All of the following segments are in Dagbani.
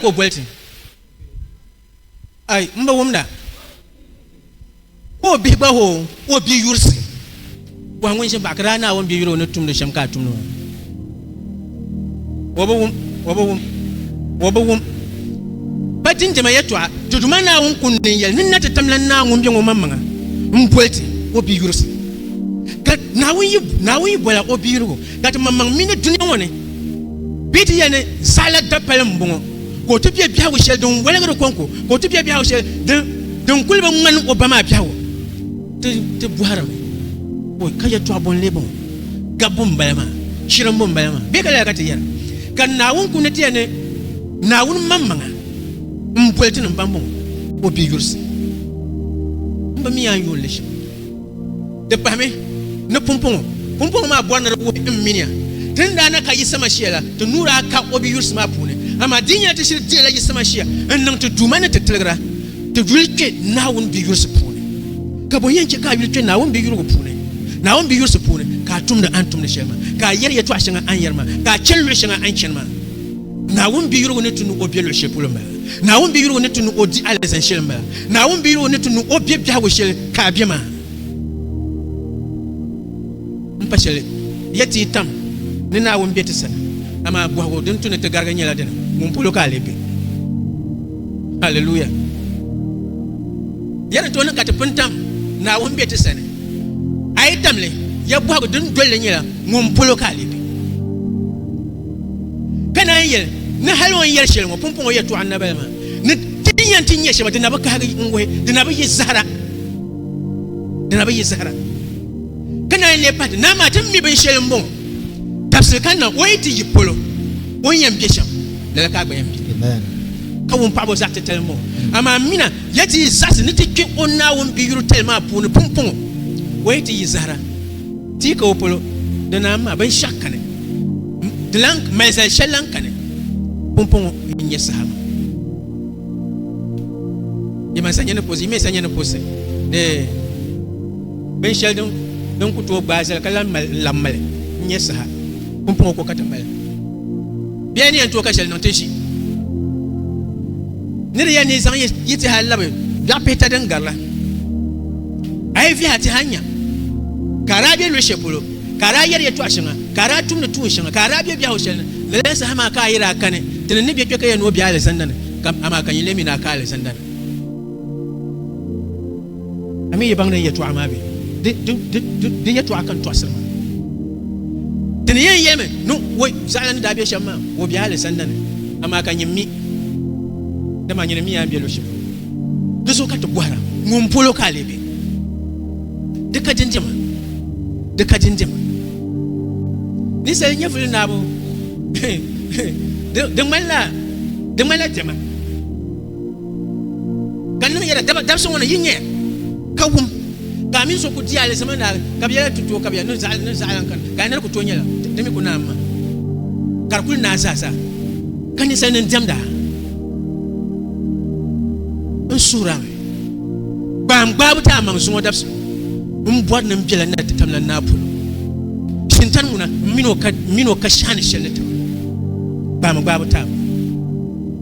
ka o boli ti. Ai, m ba wumda ka o bihi gba ho o bia yurisi. Bɔhi ŋun ʒin baɣa ka daa Naawuni bia yuri o ni tumdi shɛm ka a tumdi maa. O bi wum, o bi wum, o bi wum. Pa dindima yɛtɔɣa, ti Duuma Naawuni kundi ni n-yɛli, Nini na ti tamla n Naa ŋun be ŋɔ maŋmaŋa m-boli ti o bia yurisi. Ka Naawuni yi, Naawuni yi bola o bia yurigu. ka ti maŋmaŋ mi ni dunia ŋɔ ni bɛ ti yɛli ni saɣila dapali m-bɔŋɔ, ka o ti bɛ biɛhigu shɛli din wɔligiri kɔŋko, ka o ti bɛ biɛhigu shɛli din din kuli bi ŋmani o ba maa biɛhigu. Ti ti bɔhirimi ka o ka yɛtɔɣ bɔ n-lee bɔŋɔ? Gabbu m-bala maa, shirimbu m-bala maa, bee ka lala ka ti yɛra ka Naawuni kuli ni ti yɛli ni Naawuni maŋmaŋa m-boli ti ni m ba m-bɔŋɔ, o bi yurisi m ba mi yaa n-yooi li shɛm. Di pahimi ni pumpɔŋɔ. Pumpɔŋɔ maa bɔri ni di wuhi m miniya ti ni daa na ka Yisa Mashia la, ti nuu daa ka o biyurisi maa puuni. Amaa di yi nyɛla ti shiri dihila Yisa Mashia n-niŋ ti Duuma ni ti tiligira, ti yuli kpe Naawuni biyurisi puuni. Ka bɔ yɛn chɛ ka a yuli kpe Naawuni biyurigu puuni? Naawuni biyurisi puuni ka a tumdi a ni tumdi shɛli maa, ka a yɛri yɛtɔɣ shɛŋa a ni yɛri maa, ka a chani luɣ shɛŋa a ni chani maa. Naawuni bi yurigu ni ti ni o be luɣi shɛli polo m-bala. Naawuni bi yurigu ni ti ni o di alizan shɛli m-bala. Naawuni bi yurigu ni ti ni o be biɛhigu shɛli ka a be maa. M pa shɛli ya ti yi tam ni Naawuni be ti sani, amaa bɔhigu din tu ni ti garigi nyɛla dini, Ŋun polo ka a lee be? Haleluya! Ya ni tooi niŋ ka ti pun tam Naawuni be ti sani, a yi tam li, ya bɔhigu din dol li nyɛla, Ŋun polo ka a lee be? Ka naan yɛli ni hal o ni yɛli shɛli ŋɔ pumpɔŋɔ yɛtɔɣa n-nabali maa ni ti yɛn ti nya shɛba di na bi kahigi n-wuhi di na bi yi zahira di na bi yi zahira ka naan lee pahi ti naa maa ti mi binshɛli m-bɔŋɔ dabisili ka na o yi ti yi polo o ni yɛn be shɛm lala ka a gba yɛn be ka wun paɣibo zaɣ titali m-bɔŋɔ amaa mina ya ti yi zaɣisi ni ti kpe o Naawuni biyuri tali maa puuni pumpɔŋɔ o yi ti yi zahira Ti ka o polo, di naan maa binshɛɣu kani, di lan mali zali shɛli lan kani, pumpɔŋɔ mini nyɛ saham. Yi mali sanyani puɣisi, yi mɛ sanyani puɣisi ni binshɛli din ku tooi gbaai zali ka lan mali n-labi mali n-nyɛ saha, pumpɔŋɔ ko ka ti mali. Bɛ ya ni yɛn tooi ka shɛli niŋ ti ʒi ni di ya ni zaŋ yi ti hali labi dɔɣi pihita din gari la. A yi vihi a ti hali nya ka a daa be luɣi shɛli polo, ka a daa yɛri yɛtɔɣ shɛŋa, ka a daa tumdi tuun shɛŋa, ka a daa be biɛhigu shɛli ni, lala saha maa ka a yi daa kani ti ni ni bɛ kpe ka ya ni o be alizanda ni, amaa ka nyin leei mi ni a ka alizanda ni. A mi yi baŋ ni yɛtɔɣa maa be? Di yɛtɔɣa ka n tɔɣisiri maa. Ti ni yɛn yɛlimi ni o zaɣila ni daa be shɛm maa, o be alizanda ni, amaa ka nyin mi, dama a nyini miya n-be luɣ shɛli polo. Di zuɣu ka ti bɔhira, Ŋun polo ka a lee be? Di ka dindima! Di ka dindima! Ninsal nyɛvuli naabo, di ŋmanila dɛma! ka niŋ yɛla dabisi ŋɔ ni yi nyɛ ka wum ka mini so ku di alizama na ka bi yɛla tutuo ka bi ni zaɣalan kan ka nira ku to nyɛla di mi ku naam ma ka di kuli naa zaa zaa ka ninsal nim diɛmda n suhura mi gbaam gbaabu ti amaŋ zuŋɔ dabisi n bɔri nim biɛla na ti tamla naa polo shintani ŋuna mini o ka shani shɛli ni taba gbaam gbaabu ti amaŋ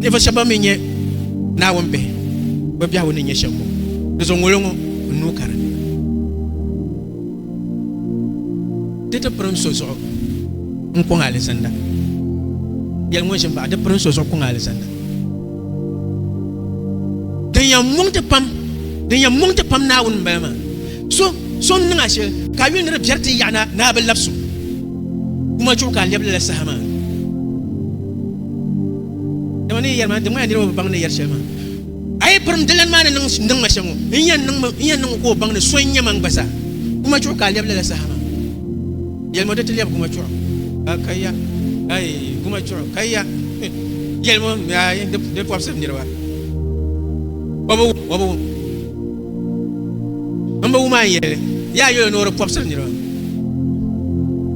Ninvuɣu shɛba ban mi nyɛ Naawuni bihi, bɛ biɛhigu ni nyɛ shɛm ŋɔ, di zuɣu ŋolo ŋɔ n nuu ka di ni. Di ti pirim so zuɣu n-kɔŋ alizanda. Yɛli ŋun ʒim baɣa, di pirim so zuɣu kɔŋ alizanda. Din yɛn muŋ ti pam, din yɛn muŋ ti pam Naawuni m-bala maa. So, so n-niŋ a shɛli ka a yuli ni di biɛri ti yaɣi ni a bi labis o, kuma chuɣu ka a lɛbi lala saha maa. dama ni yɛri maa di ŋmaya niriba bi baŋ ni yɛri shɛli maa a yi pirim dilani maa ni niŋ ma shɛŋa n yɛn niŋ ka o baŋ ni so n nyɛ man gba zaa kuma chuɣu ka a lɛbi lala saha maa yɛlima di ti lɛbi kuma chuɣu ka ya ayi kuma chuɣu ka ya yɛlima ayi di pɔbisiri niriba wabu wabu n bi wuma n yɛli yaa yɛli ni o di pɔbisiri niriba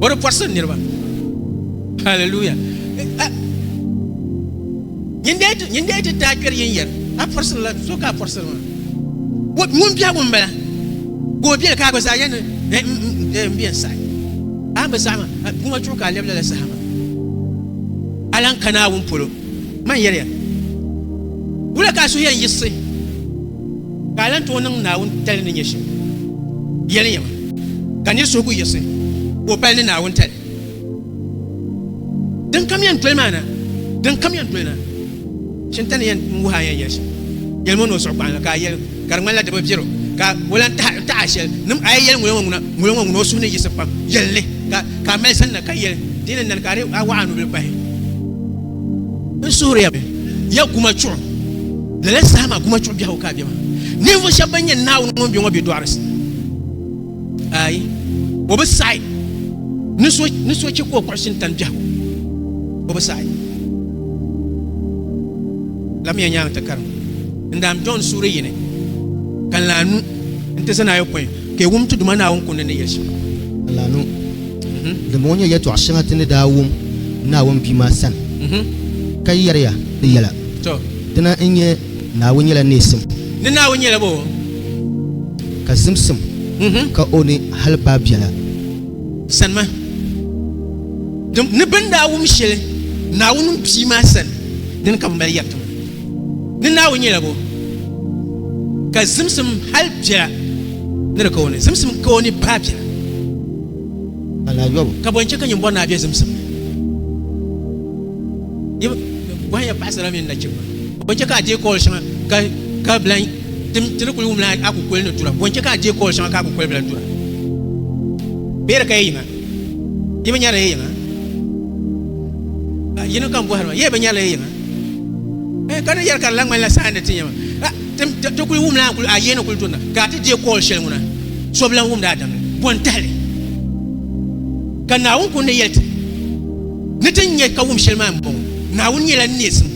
o di pɔbisiri niriba Hallelujah. Eh, eh. Yin da yɛti yin da yɛti taa kpɛri yin yɛri a pɔrisiri la so ka a pɔrisiri ma. Wo ŋun biɛhigu n bala ka o biɛli ka a gba zaa yɛni eh, n mm, mm, eh, biɛn sahi. A bi zahama guŋa chuɣu ka a lɛbi lala sahama. A lan ka Naawuni polo. Man yɛliya. Wula ka a suhu yɛn yiɣisi ka a lan tooi niŋ Naawuni tali ni nyɛ shɛm. Yɛli yɛma ka nir suhu ku yiɣisi ka o pali ni Naawuni tali. din kam yɛn doli maa na din kam yɛn doli na chinta ni yɛn wuhi a yɛn yɛli shɛm yɛlimo ni o suɣu kpaŋ la ka a yɛli ka di ŋmanila di bi viɛro ka o lan taɣa shɛli nim a yi yɛli ŋolo ŋɔ ŋuna ŋolo ŋɔ ŋuna o suhu ni yiɣisi pam yɛli ni ka ka a mali sanna ka yɛli di ni nani ka a waɣa a nubili pahi n suhuriya mi ya guma chuɣu lala saha maa guma chuɣu biɛhigu ka a bɛ maa ninvuɣu shɛba ban yɛn naawuni ŋun bɛ ŋɔ bɛ dɔɣirisi ayi o bi saɣi ni so ni so chɛ ka o kpuɣisi n-tani biɛhigu o bi saɣi lamiya nyaaŋa ti karim n daan John suuri yini ka n laanu n ti zani ayopɔin ka wum ti Duuma Naawuni kundi ni yɛli shɛm laanu din ŋɔ nyɛ yɛtɔɣ shɛŋa ti ni daa wum Naawuni Bia maa sani ka yɛriya di yɛla to dina n-nyɛ Naawuni nyɛla neesim ni Naawuni nyɛla bo ka zimsim ka o ni hali baai biɛla. Sanima ni bɛ ni daa wum shɛli Naawuni Bia maa sani, dini ka bɛ mali yɛri ti ma ni Naawuni nyɛla bo, ka zimsim hali biɛla ni di ka o ni, zimsim ka o ni baai biɛla. Ka bɔ n-chɛ ka nyimbɔri naa be zimsim ni? Yi bɔhimiya paɣisara mini nachimba, bɔ n-chɛ ka a deei kool shɛŋa ka bi lan Tim ti ni kuli wumla a kukoli ni dura, bɔnchɛ ka a deei kɔɔl shɛŋa ka a kukoli bi lahi dura? Bɛ yɛli ka ya yiŋa, yi bi nyarila ya yiŋa? Ka yini kam bɔhiri ba, Yee bi nyarila ya yiŋa? Eh, ka ni yɛli ka di lahi ŋmanila saha ni ti nya ma, tim ti kuli wumla a kuli a yee ni kuli durina, ka a ti deei kɔɔl shɛli ŋuna, so bi lahi wumdi a damli. Bɔn tahili ka Naawuni kuli ni yɛli ti ni ti nya ka wum shɛli maa m-bɔŋɔ, Naawuni nyɛla neesim.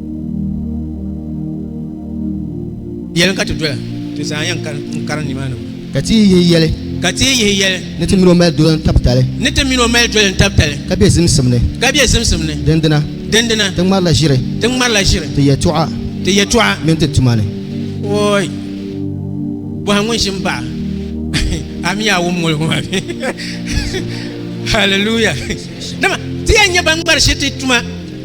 yɛli ka ti doya ti zaa yɛn kari nimaani ka ti yihi yɛli ka ti yihi yɛli ni ti mini o mali doli n tabi tali ni ti mini o mali doli n tabi tali ka bɛ zimsim ni ka bɛ zimsim ni dindina dindina ti ŋmarila ʒiri ti ŋmarila ʒiri ti yɛtɔɣa ti yɛtɔɣa mini ti tuma ni ooi bɔha ŋun ʒi n baɣa ami yaa wum ŋoli ŋɔ haleluya dama ti yɛn nyɛ ban ŋmari shiri ti tuma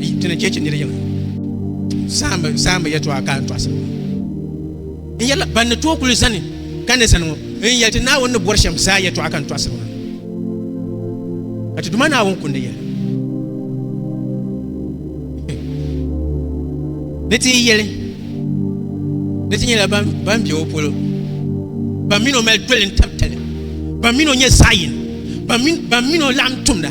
Di ni cheche niri yiŋa saambi saambi yɛtɔɣa ka n tɔɣisiri ŋɔ n yɛla ban ni tooi kuli zani ka ni zani ŋɔ n yɛli ti naawuni ni bɔri shɛm zaa yɛtɔɣa ka n tɔɣisiri ŋɔ ka ti duma naawuni kundi yɛli ni ti yɛli ni ti nyɛla ban bɛ o polo ban mini o mali doli n tab tali ban mini o nyɛ zaɣ yini ban mini o laɣam tumda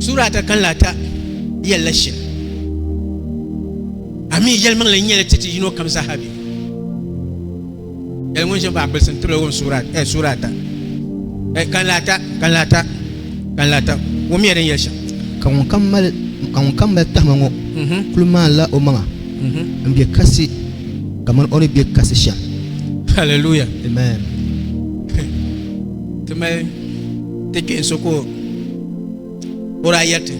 Sura ata kan la ata yɛli la shɛli. Ami yɛlimaŋli n nyɛla titi yino kam zaa be. Yɛli ŋun ʒe baɣa kpilisi n tibila wum sura eh, sura ata eh, kan la ata kan la ata kan la ata wum yɛli din yɛli shɛm. Ka ŋun kam mali ka ŋun kam mali tahima ŋɔ mhm. kuli maan la o maŋa mhm. n bɛ kasi ka man o ni bɛ kasi shɛm. Hallelujah. Amen. ti kpɛ so ko o daa yɛriti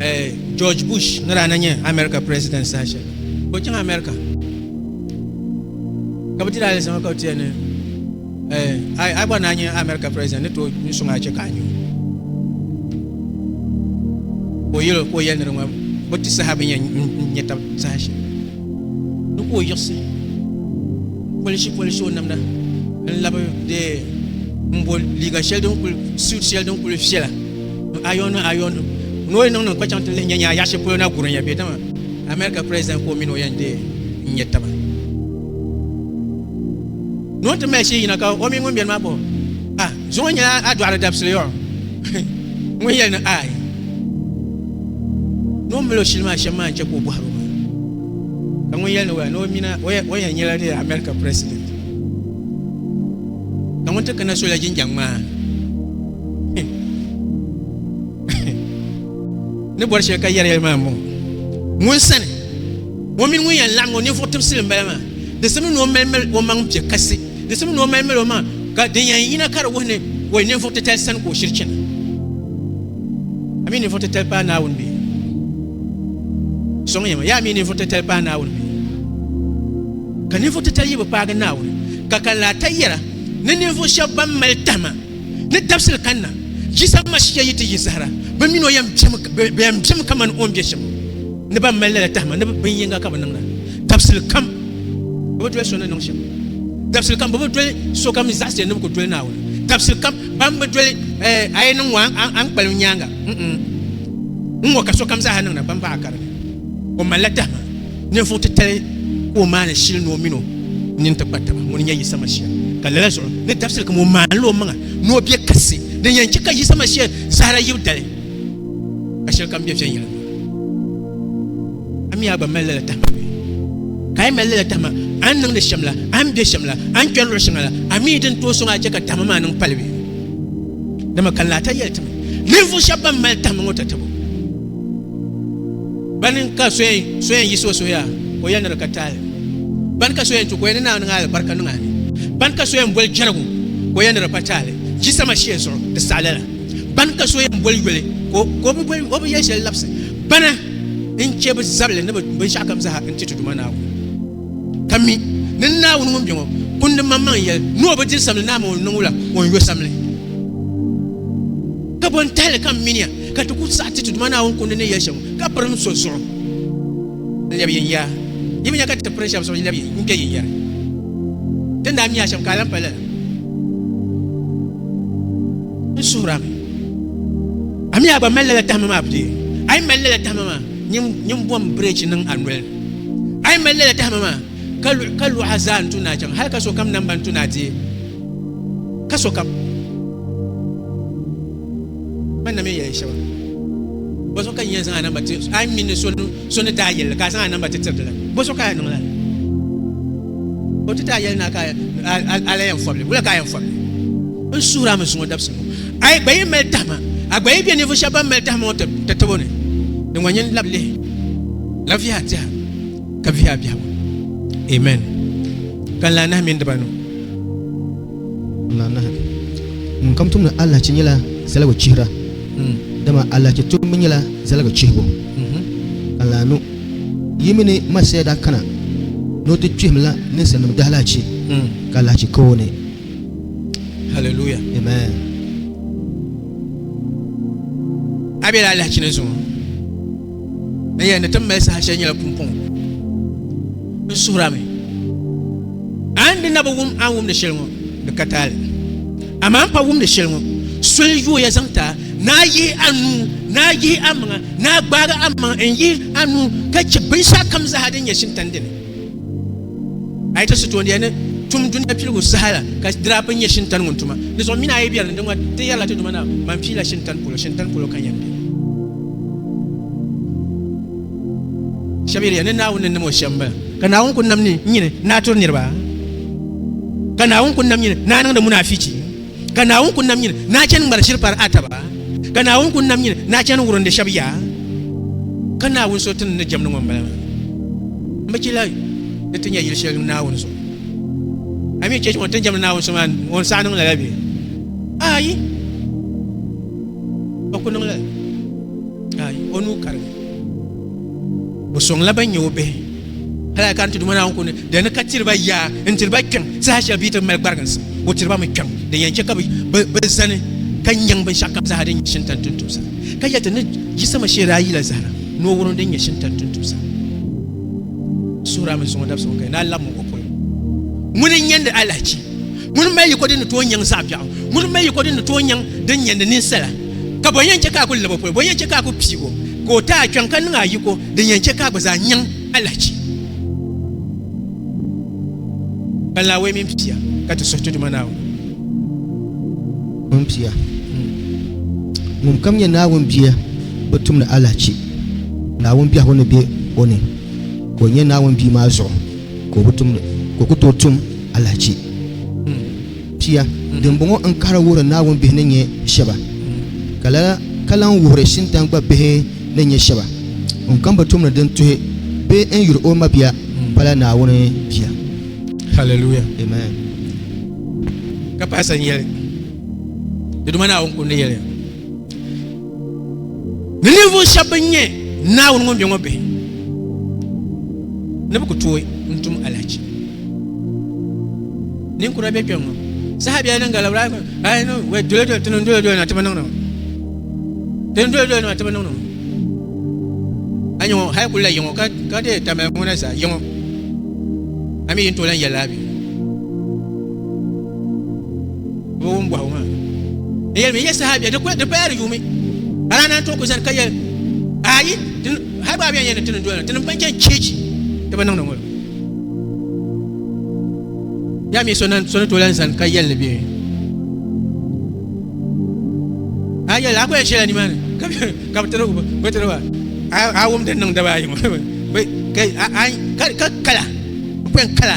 eh, george bush ni daa na nyɛ america president saha shɛli ko chaŋ america ka bi ti daa yɛlisama ka bi tiya ni eh, a gba naa nyɛ america president ni tooi ni suŋ a chɛ ka a nyu ko yɛli ko yɛli ni di ŋɔ bi ti saha bi nyɛ nyɛ tab saha shɛli Di ka o yiɣisi polisi polisi o namda n-labi dee m-bo liiga shɛli din kuli, suit shɛli din kuli viɛla n-iron ni iron ni o yɛn niŋ niŋ ka chaŋ ti lihi nya nya a yaɣ'shɛli polo na gurin ya bee dama America President ka o mini o yɛn dee n-nyɛ taba. Ni o ni ti mali shee yina ka o mini ŋun beni maa pa o. So ŋɔ nyɛla a dɔɣiri dabisili yɔɣu ŋun yɛli ni aai ni o mali o shili maa shɛm maa n-chɛ ka o bɔhiri o maa ka ŋun yɛli ni waya ni o mina o yɛn nyɛla di America president ka ŋun ti kana so la jinjam ŋmaa ni bɔri shɛli ka yɛriyɛri maa m-bɔŋɔ ŋun sani o mini ŋun yɛn laɣim o ninvuɣ tibisili m-bala maa di simdi ni o mali o maŋ piɛ kasi Di simi ni o mali mali o maŋa ka din yɛn yina ka di wuhi ni o yi ninvuɣ titali sani ka o shiri chana. A mi ninvuɣ titali paai Naawuni bee? Sɔŋ yɛma, yaa mi ninvuɣ titali paai Naawuni bee? Ka ninvuɣ titali yi bi paagi Naawuni, ka kan laa ta yɛra ni ninvuɣ shɛb bɛn mali tahima ni dabisili kanna Jisam Mashiya yi ti yi zahira, bɛ min o yɛn bemi kaman o ni be shɛm. ni ban mali lala tahima ni bin yinga ka bi niŋda dabisili kam bi bi doli so ni niŋ shɛm dabisili kam bi bi doli so kam zaɣ shɛli ni bi ku doli naawuni dabisili kam ban bi doli a yi niŋ ŋɔ a ni kpalim nyaanga n ŋɔ ka sokam zaaha niŋda ban baɣa kari o malila tahima ninvuɣ titali ka o maani shili ni o mini o nini ti kpa taba ŋuni nyɛ yisa mashia ka lala zuɣu ni dabisili kam o maanila o maŋa ni o bɛ kasi din yɛn chɛ ka yisa mashia zahara yibu dali ka shɛli kam bɛ viɛnyɛla a mi yaa gba mali lala tahima bɛ ka a yi mali lala tahima a ni niŋdi shɛm la a ni bɛ shɛm la a ni kpɛri luɣu shɛŋa la a mi din tooi sɔŋ a chɛ ka tahima maa niŋ pali bɛ dama ka laata yɛli timi ninvuɣu shɛba ban mali tahima ŋɔ tatabo bani ka so yɛn yiɣisi o suhuya o yɛn niri ka taali bani ka so yɛn tu ka o yɛn ni naa niŋ alibarika niŋ ani bani ka so yɛn boli jɛrigu ka o yɛn niri pa taali jisama shee zuɣu di saɣila la Bani ka so yɛn boli yoli ka o bi boli o bi yɛli shɛli labisi bana n chɛ bi zabili ni binshɛɣu kam zaa n ti ti Duuma Naawuni ka mi ni n Naawuni ŋun bɛ ŋɔ kundi maŋmaŋ yɛli ni o bi diri samli naa mini o ni niŋ wula o ni yo samli ka bɔn tahili ka n miniya ka ti ku saɣi ti ti Duuma Naawuni kundi ni yɛli shɛm ka pirim so zuɣu n lɛbi yin yaa yi mi nya ka ti pirim shɛm zuɣu yi lɛbi n kpɛ yin yɛri ti ni daa mi yaa shɛm ka a lan pali lala n suhura mi a mi a gba mali lala tahama maa bidee a yi mali lala tahama maa nyin bom birɛchi niŋ a noli a yi mali lala tahama maa ka luɣa zaa n tu naa chaŋ hali ka sokam namba n tu naa deei ka sokam man na mi yɛli shɛba bɔzuɣu ka n yɛn zaŋ a namba ti a yi mi ni so So ni daa yɛli li ka a zaŋ a namba ti tiriti li, bɔ so ka a yɛn niŋla li? O ti daa yɛli naa ka a la yɛn fɔbili, wula ka a yɛn fɔbili? N suhiri a mi zuŋɔ dabisili ŋɔ, a yi gba yi mali tahima, a gba yi be ninvuɣ shɛba ban mali tahima ŋɔ ti tabo ni. Di ŋɔ nyin lab lihi la vihi a tɛha ka vihi a biɛhigu. Amen. Ka n lahi nahi mini dibanu. Ŋmaanahi, ŋun kam tumdi alahichi nyɛla zaligu chihira, dama alahichi tumbu nyɛla zaligu chihibu. Ka lahi nu, yi mi ni Masia daa kana ni o ti kpihim la ninsalinim dahalahichi, ka alahichi ka o ni. Haleluya! Amen! A bela alahichi ni zuŋɔ. N yɛn ni ti mali saha shɛli nyɛla pumpɔŋɔ n suhura mi a ni di na bi wum a ni wumdi shɛli ŋɔ di ka taali amaa n pa wumdi shɛli ŋɔ soli yooya zaŋ ti a ni a yihi a nuu ni a yihi a maŋa ni a gbaagi a maŋa n yihi a nuu ka chɛ binshɛɣu kam zaa din nyɛ shintani dini a yi ti sitoondiya ni tum dunia piligu saha la ka dirap n nyɛ shintani ŋun tuma di zuɣu mini a yi biɛri ni ŋɔ ti yɛrila ti duma na man piila shintani polo shintani polo ka yɛn bɛ shɛb yɛliya ni naawuni ni nam o shɛm bala ka naawuni ku nam ni nyini ni a turi niriba ka naawuni ku nam nyini ni a niŋdi munaafichi ka Naawuni ku nam nyini ni a chani ŋmari shiri pari a taba, ka Naawuni ku nam nyini ni a chani wurindi shɛb ya, ka Naawuni so ti ni ni jɛmdi ŋɔ m-bala maa. M bi chila ni ti nya yil shɛli Naawuni so. A mi chɛ ŋun ti ni jɛmdi Naawuni so maa ŋun saha niŋ lala bee? Aai! O ku niŋ lala. Aai! O nuu karimi. O sɔŋla bɛn nyɛ o bihi. Hali ka n ti duma Naawuni ko ni di ni ka tiri ba yaa n-tiri ba kpiɔŋ saha shɛli bɛ yi ti mali gbariginsi, o tiri ba mi kpiɔŋ din yɛn chɛ ka bɛ zani ka nyaŋ binshɛɣu kam zaa din nyɛ shintan tuntumsa, ka yɛli ti ni yisama shee daa yila zahira ni o wurim din nyɛ shintan tuntumsa suhira mini suŋɔ dabisigu ka yi daa labim o polo. Ŋuni n-nyandi alahichi? Ŋuni m-mali yiko din ni tooi nyaŋ zaɣ biɛɣu? Ŋuni m-mali yiko din ni tooi nyaŋ din nyandi ninsala? Ka bɔ yɛn chɛ ka a kul lab o polo? Bɔ yɛn chɛ ka a kul piig o ka o ti a kpiɔŋ ka niŋ a yiko din yɛn chɛ ka a gba zaa nyaŋ alahichi? Ka Naawuni mini pia ka ti suhi ti Duuma Naawuni. Mini pia. Ŋunkam nyɛ Naawuni bia bi tumdi alahichi. Naawuni biɛhigu ni be o ni ka o nyɛ Naawuni bia maa zuɣu ka o bi tumdi, ka o ku tooi tum alahichi. pia, dimbɔŋɔ n kahiri wuhiri Naawuni bihi ni nyɛ shɛba, ka lala ka lan wuhiri Shintan gba bihi ni nyɛ shɛba. Ŋun kam bi tum ni din tuhi bee n yuri o mabia pala Naawuni bia. Hallelujah. Amen. Ka paɣa sa n yɛli, Di Duuma Naawuni Kundi yɛliya. Ni ninvuɣu shɛba bin nyɛ Naawuni ŋun be ŋɔ bihi ni bi ku tooi n-tum alahichi. Ninkura be kpɛŋ ŋɔ saha biɛla din gala wɛ dole dole ti niŋ dole dole na ti bi niŋdi ŋɔ ti niŋ dole dole na ti bi niŋdi ŋɔ a nyɛ ŋɔ hali kuli la yiŋɔ ka deei tamali ŋɔ na zaa yiŋɔ a mi yi ni tooi lan yɛli laa bɛ Doo ŋun bɔhigu maa n yɛlimi yɛ saha bɛ di paya di yuumi bala naan tooi ku zani ka yɛ ayi hali baa bɛn yɛ ni tini doya tini ban chɛn cheechi ti bi niŋdi ŋɔlo yaa mi so ni tooi lan zani ka yɛli ni bɛ a yɛli a ku yɛn shɛla nimaani ka bi tiri ba a wum din niŋ daba ayi ŋɔ ka kala n ku yɛn kala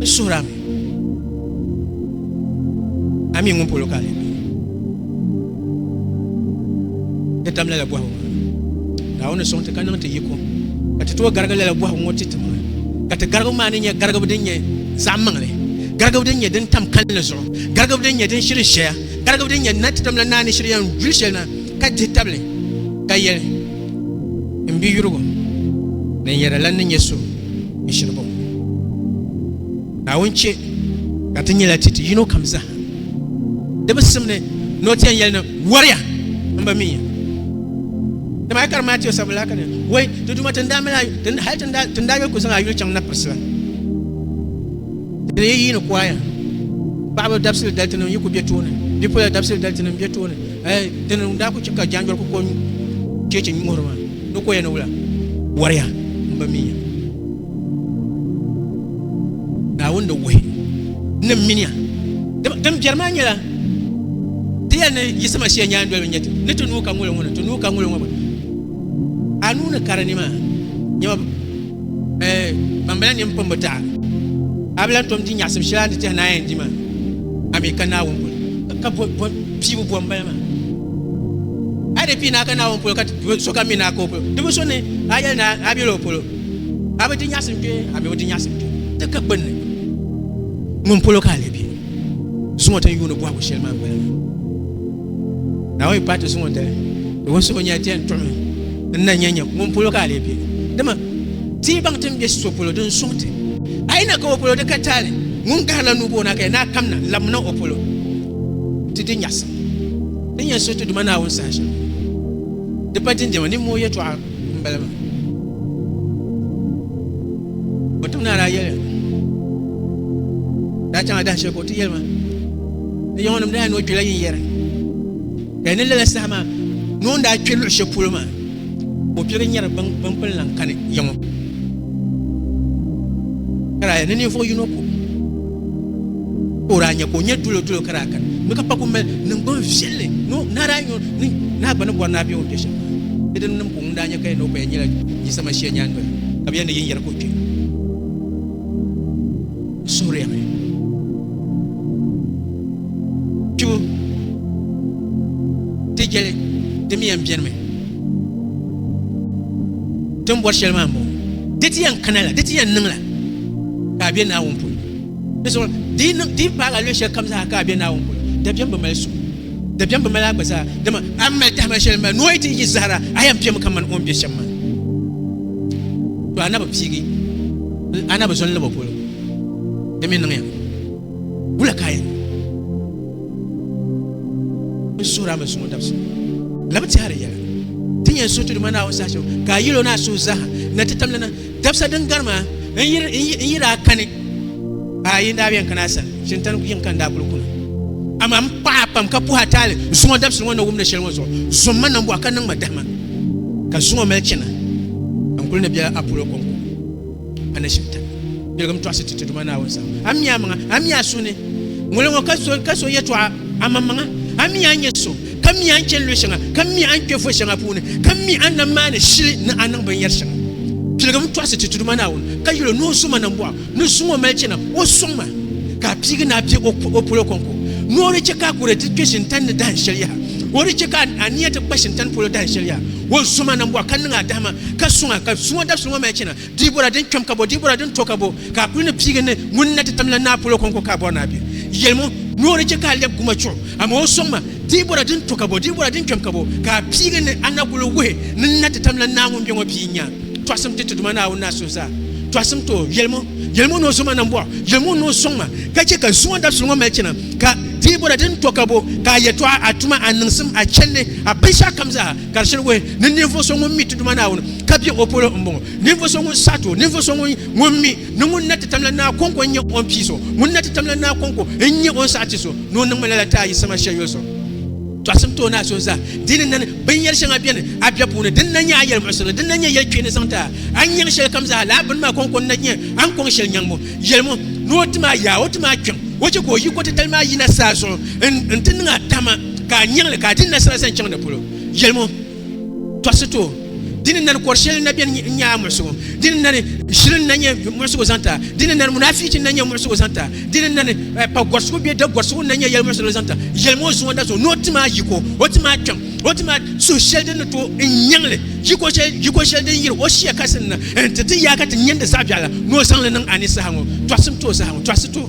N suhiri a mi, a mi ŋun polo ka a lee mi ti tam lala bɔhigu maa. Naawuni ni sɔŋ ti ka niŋ ti yiko ka ti tooi garigi lala bɔhigu ŋɔ ti ti maa, ka ti garigibu maa ni nyɛ garigibu din nyɛ zaɣ maŋli, garigibu din nyɛ din tam kalinli zuɣu, garigibu din nyɛ din shiri ʒiɛya, garigibu din nyɛ na ti tamla Naa ni shiri yɛn yuli shɛli na ka dihi tabili ka yɛli, N biyurigu, din yɛda la ni nyɛ so ni shiri bɔŋɔ. Naawuni chɛ ka ti nyɛla ti ti yino kam zaa di bi sim ni ni o ti yɛn yɛli ni, Wariya! M bi mi ya. Dama a yi kari Matiu sabu laa ka di wai, ti Duuma, ti ni daa mali a, hal ti ni daa yuli ku zaŋ a yuli chaŋ napirisi la, ti ni yi yi ni kuaya. Paɣaba dabisili dali ti ni yi ku be tooni, bipola dabisili dali ti ni bɛ tooni. Ɛɛ, di ni daa ku chɛ ka jaanjɔli ku kɔŋ cheechi nyuhiri maa, di kɔya ni wula? Wariya m-bi mi ya. Naawuni di wuhi ni m-mini ya. Dama din biɛri maa nyɛla ti yɛli ni Yisi Masia nyaandoliba nyɛ ti, ni ti nuu ka ŋuli ŋɔ ni ti nuu ka ŋuli ŋɔ gba. A nuu ni kari ni maa, nyama ɛɛ, ban bala nini pun bi taɣi. A bi lan tom di nyaɣisim shɛli a ni tehi ni a yɛn di maa, a mi ka Naawuni polo. Ka bɔ, bɔ. piibu bɔ m-bala maa. A di pii naa ka Naawuni polo ka ti so kam mi naa ka o polo. Di bi so ni a yɛli ni a bela o polo, a bi di nyaɣisim kpe ami o di nyaɣisim kpe. Ti ka gbunni, ŋun polo ka a lee be zuŋɔ ti ni yuuni bɔhigu shɛli maa m-bala maa. Naawuni paai ti zuŋɔ dali, di wun suhi nya ti yɛn tuɣimi n na nya ŋun polo ka a lee be. Dama ti yi baŋ ti ni be so polo, din suŋ ti. A yi na ka o polo, di ka taali ŋun gahirila nuu bo o naa ka yɛli ni a kamna n-labimna o polo. Ti di nyaɣisim din yɛn suhi ti Duuma Naawuni saha shɛm. Di pa dindɛma niŋm o yɛtɔɣa m-bala maa. O tim ni a daa yɛli daa chaŋ a dahin shɛli ka o ti yɛli ma ni yawɔnim daa ni o kpila yin yɛri ka yi ni lala saha maa ni o ni daa kpe luɣ shɛli polo maa. ka o kpɛbu nyɛri binkpini lan kani yiŋɔ ka daa yɛli ni ninvuɣ yino ka o daa nyɛ ka o nyɛ dulodolo ka daa kani mi ka pa ku mali niŋgbuŋ viɛlli ni o naa daa nyɔ ni naa gba ni bɔri ni a be o ni kpɛ shɛm di din nim ka o ŋun daa nyɛ ka yɛn ni o pa yɛn nyɛla Yisama shia nyaandoya ka bɛ yɛn ni yin yɛri ka o kpɛ n suhiri ya mi kpibu ti jɛli di mi yɛn bɛnimi ti ni bɔri shɛli maa m-bɔŋɔ di ti yɛn kana la di ti yɛn niŋ la ka a be Naawuni polo di zuɣu di yi niŋ di yi paagi a luɣ shɛli kam zaa ka a be Naawuni polo dabiɛm bi mali suŋ dabiɛm bi mali a gba zaa dama a ni mali tahima shɛli maa ni o yi ti yi zahara a yɛn bemi kaman o ni be shɛm maa to a na bi piigi a na bi zo n-lab o polo di mi niŋya Wula ka a yɛn suhiri a masuŋɔ dabisi labi tɛhiri yɛla ti yɛn suhi tuduma Naawuni saha shɛm ka a yil o ni a suhu zaaha na ti tamli na dabisa din gari maa n yiri a kani a yi daa yɛn kana a sani shintani yiŋ ka n daa kuli kuna amaa m paɣa pam ka puhi a taali zuŋɔ dabisi ŋɔ na wumdi shɛli ŋɔ zuɣu zuŋ ma nambɔɣu ka niŋ ma dahima ka zuŋɔ mali chana n kuli ni biɛla a polo kɔŋko Anashibiti biɛligim tɔɣisi ti ti Duuma Naawuni sani. A mi amaŋa, a mi a suhu ni ŋuli ŋɔ ka so ka so yɛtɔɣa amaŋmaŋa. A mi a ni nyɛ so, ka mi a ni chani luɣ shɛŋa, ka mi a ni kpe vo shɛŋa puuni, ka mi a ni na maani shili ni a niŋ binyɛr shɛŋa. Biɛligim tɔɣisi ti ti Duuma Naawuni, ka yɛl o ni o zo ma nambɔɣu ni zuŋɔ mali chana o sɔŋ ma, ka a piigi ni a be o polo kɔŋko. Ni o di chɛ ka a kuri ti kpe shintani ni dahin shɛli yaha, o di chɛ ka a nia ti kpa shintani polo dahin shɛli yaha, o zo ma nambɔɣu ka niŋ a dahima. ka suŋ a, ka suŋɔ dabisili ŋɔ mali chana, di bɔra din kpɛm ka bɔ, di bɔra din to ka bɔ, ka a kuli ni piigi ni ŋun ni na ti tamila naa polo kɔŋko ka a bɔri ni a be yɛlimo ni o ni chɛ ka a lɛbi guma chuɣu, amaa o sɔŋ ma, di bɔra din to ka bɔ, di bɔra din kpɛm ka bɔ, ka a piigi ni a na kuli wuhi ni n na ti tamila naa ŋun be ŋɔ pia n-nya tɔɣisim ti Tiduma Naawuni naa suhu zaa tɔɣisim ti o yɛlimo yɛlimo ni o zoma nam bɔɣu yɛlimo ni o sɔŋ ma, ka chɛ ka suŋɔ dabisili ŋɔ mali chana, ka di bɔra din to ka bɔ, ka a yɛtɔɣa, a tuma, a niŋsim, a chɛndi, a binshɛɣukam zaa. Ka di shiri wuhi ni ninvuɣu so ŋun mi ti Duuma Naawuni ka be o polo m-bɔŋɔ, ninvuɣu so ŋun saɣiti o, ninvuɣu so ŋun mi ni ŋun na ti tamla Naa Kɔŋko n-nyɛ o ni pii so, ŋun na ti tamla Naa Kɔŋko n-nyɛ o ni saɣiti so, ni o niŋmi lala ti a yiɣisima shɛli yoli so. Tɔɣisim ti o naa so zaa. Di ni nani, binyɛr shɛŋa beni a bɛ puuni din na nyɛ a yɛlimuɣisiri li, din na nyɛ yɛl kpeeni zaŋ ti a. A ni nyaŋ shɛlikam zaa, lala bini maa kɔŋko n-na nyɛ a ni kɔŋ shɛli nyaŋbu. Yɛlimo, ni o tim a yaa, o tim a kpiɔŋ, o chɛ ka o yikotitali maa yina saa zuɣu n-ti niŋ a tahima. ka a nyaŋli ka a dini na sara zaŋ chaŋ di polo, yɛlimo tɔɣisi ti o. Di ni nani kɔr shɛli n-na beni n-nya a muɣisigu, di ni nani ʒili n-na nyɛ muɣisigu zaŋ ti a, di ni nani munaafichi n-na nyɛ muɣisigu zaŋ ti a, di ni nani pa gɔrisigu bee da gɔrisigu n-na nyɛ yɛlimuɣisirili zaŋ ti a, yɛlimo o zuŋɔ da zuŋɔ ni o tim a yiko, o tim a kpiɔŋ, o tim a suhu shɛli din ni ti o n-nyaŋli, yiko shɛli, yiko shɛli din yiri o shia kasi n-na nti ti yaa ka ti nya di zaɣ'biɛɣu la, ni o zaŋ li niŋ a ni saha ŋɔ, tɔɣisim ti o saha ŋɔ, tɔɣisi ti o.